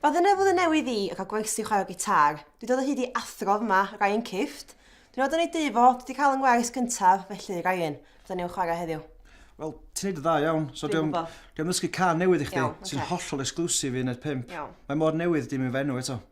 Ba dyna fydd y newydd i, a cael gwersi o chwarae gitar. Dwi dod o hyd i athro fyma, Ryan Kift. Dwi'n nod yn ei dŷ fo, dwi di cael yng ngwers gyntaf, felly Ryan, fydda ni'n chwarae heddiw. Wel, ti'n neud yn dda iawn. So Dwi'n gwbo. Dwi am ddysgu can newydd i chdi. Iawn, ocê. Sy'n hollol exclusive i un o'r pump. Iawn. Mae mor newydd dim i fy enw eto.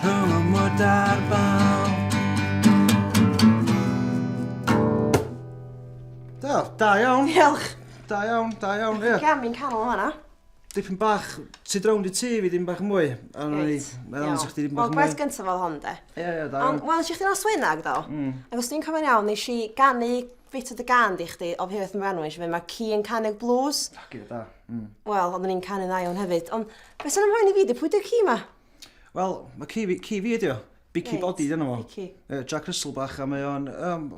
Rhwng y mwd a'r bal. Da, da iawn. Diolch. Da iawn, da iawn, ie. Gam i'n canol o fanna. Dipyn bach, ti drown i ti fi ddim bach mwy. A rwy'n i, mae'n amser chdi ddim bach mwy. Wel, gwaith gyntaf oedd hon, de. Ie, ie, da iawn. Ond, wel, eisiau chdi nos wynag, do. Mm. Ac os ti'n cofio'n iawn, nes i ganu bit o dy gan di chdi, o hefyd yn fanwyn, fe mae ci yn canu'r blues. Ac da. Mm. Wel, ond ni'n canu'n dda iawn hefyd. Ond, beth sy'n ymwneud i fi, di pwy di'r ci ma? Wel, mae Kiwi, Kiwi ydi o. Bici Reit, body dyna fo. Bici. Uh, Jack Russell bach a mae o'n... Um,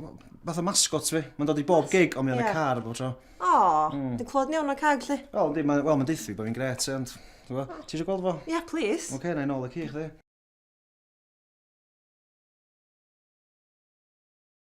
fath o mascot fi. Mae'n dod i bob gig, ond mae o'n y car bob tro. O, mm. dwi'n clod ni o'n y cag, lle? Wel, yndi, mae'n well, ma deithu bod fi'n gret, ond... Ti eisiau gweld fo? Ie, yeah, please. Oce, okay, na i'n ôl y ci, chdi.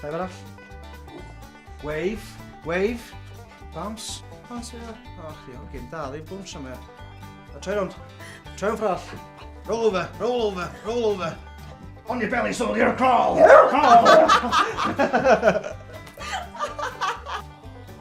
Dau arall. Wave, wave. Bounce, bounce yna. O, chi, o'r gym da, ddim bounce am e. A troi rownd. Troi rownd ffrall. Roll over, roll over, roll over. On your belly, soldier, crawl! Crawl!